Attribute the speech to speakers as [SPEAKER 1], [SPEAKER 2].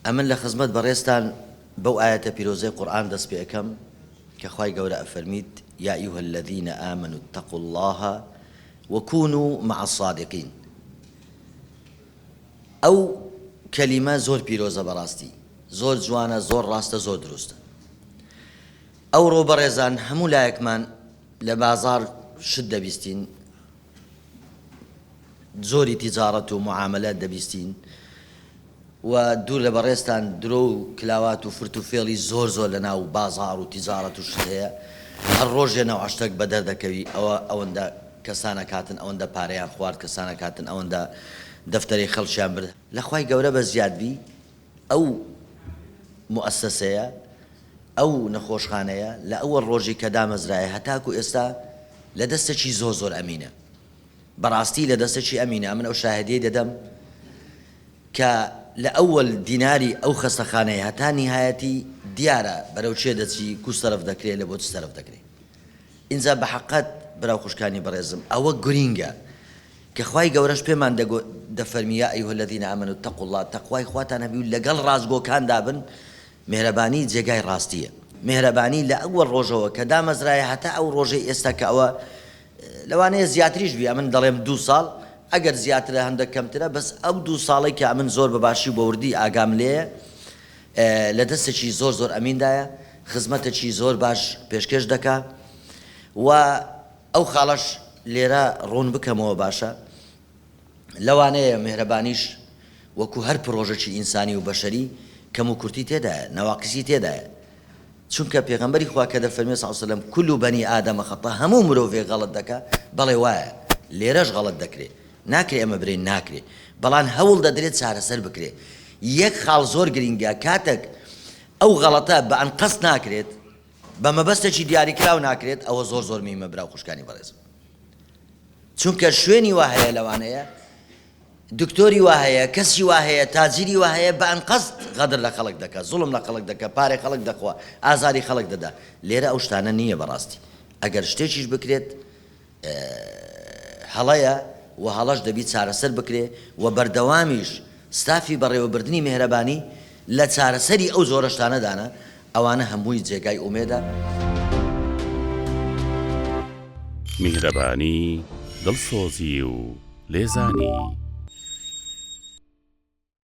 [SPEAKER 1] ئەمن لە خزمەت بەڕێزتان بەو ئایەتە پیرۆزەی قورئان دەست پێ ئەکەم کە خوای گەورە ئەفەرمیت، یا ایها الذین آمنوا اتقوا اللە وکونوا مع الصادقین ئەو کەلیمە زۆر پیرۆزە بەڕاستی زۆر جوانە زۆر ڕاستە زۆر دروستە ئەوڕۆ بەڕێزان هەموو لایەکمان لە بازاڕ شت دەبیستین جۆری تیجاڕەت و موعامەلە دەبیستین و دوور لە بەڕێزتان درۆ و کلاوات و فرت و فێڵی زۆر زۆر لە ناو بازاڕ و تیجاڕەت و شت هەیە هەر ڕۆژێ نەوع شتەک بە دەر دەکەوی ئەوە ئەوەندە کەسانەک هاتن ئەوەندە پارەیان خوارد کەسانەک هاتن ئەوەندە دەفتەرەی خەڵکیان برد لە خوای گەورە بە زیاد بی. ئەو موئەسەسەیە، ئەو نەخۆشخانەیە لە ئەوەڵ ڕۆژی کە دامەزرایە هەتاکو ئێستا لە دەستەکی زۆر زۆر ئەمینە. بەڕاستی لە دەستەکی ئەمینە. ئەمن ئەو شاهدیەی دەدەم کە لە ئەوەڵ دیناری ئەو خەستەخانەیە هەتا نیهایەتی دیارە بەرەو چێ دەچی، کو سەرف دەکرێ، لە بۆ چ سەرف دەکرێ. ئینجا بە حەقەت برا و خوشکانی بەڕێزم ئەوە گورینگە. کە خوای گەورەش پێمان دەگۆ دەفەرمی یا ایها الذین آمنوا اتقوا اللە تەقوای خواتان هەبی و لەگەڵ ڕاستگۆکاندا بن میهرەبانی جێگای ڕاستیە میهرەبانی لە ئەوەڵ ڕۆژەوە کە دامەزرایە هەتا ئەو ڕۆژەی ئێستا کە ئەوە لەوانەیە زیاتریش بی ئەمن دەڵێم دوو ساڵ ئەگەر زیاترە هەندەک کەمترە بەس ئەو دوو ساڵی کە ئەمن زۆر بە باشی و بەوردی ئاگام لێیە لە دەستێکی زۆر زۆر ئەمیندایە خزمەتەکی زۆر باش پێشکێش دەکا و ئەو خاڵەش لێرە ڕوون بکەمەوە باشە، لەوانەیە میهرەبانیش وەکو هەر پڕۆژەکی ئینسانی و بەشەری کەم و کورتی تێدایە، نواقیسی تێدایە، چونکە پێغەمبەری خوا کە دەفەرموێ صلی وسلم کل بنی آدم خطاء هەموو مرۆڤێک غەڵەت دەکا، بەڵێ وایە، لێرەش غەڵەت دەکرێ، ناکرێ ئەمە برێین ناکرێ، بەڵام هەوڵ دەدرێ چارەسەر بکرێ، یەک خاڵ زۆر گرینگە کاتەک ئەو غەڵەتە بە ئەنقەست ناکرێت، بە مەبەستێکی دیاریکراو ناکرێت ئەوە زۆر زۆر میمە برا و خوشکانی بەڕێزم چونکە شوێنی وا هەیە لەوانەیە دکتۆری وا هەیە کەسی وا هەیە تاجیری وا هەیە بە ئەنقەست غەدر لە خەڵک دەکە زوڵم لە خەڵک دەکە پارێ خەڵک دەخوا ئازاری خەڵک دەدا لێرە ئەو شتانە نییە بەڕاستی ئەگەر شتێکیش بکرێت هەڵەیە و هەڵەش دەبی چارەسەر بکرێ و بەردەوامیش ستافی بەڕێوەبردنی مێهرەبانی لە چارەسەری ئەو جۆرە شتانەدانە، ئەوانە هەمووی جێگای ئومێدە.
[SPEAKER 2] میهرەبانی، دڵسۆزی و لێزانی.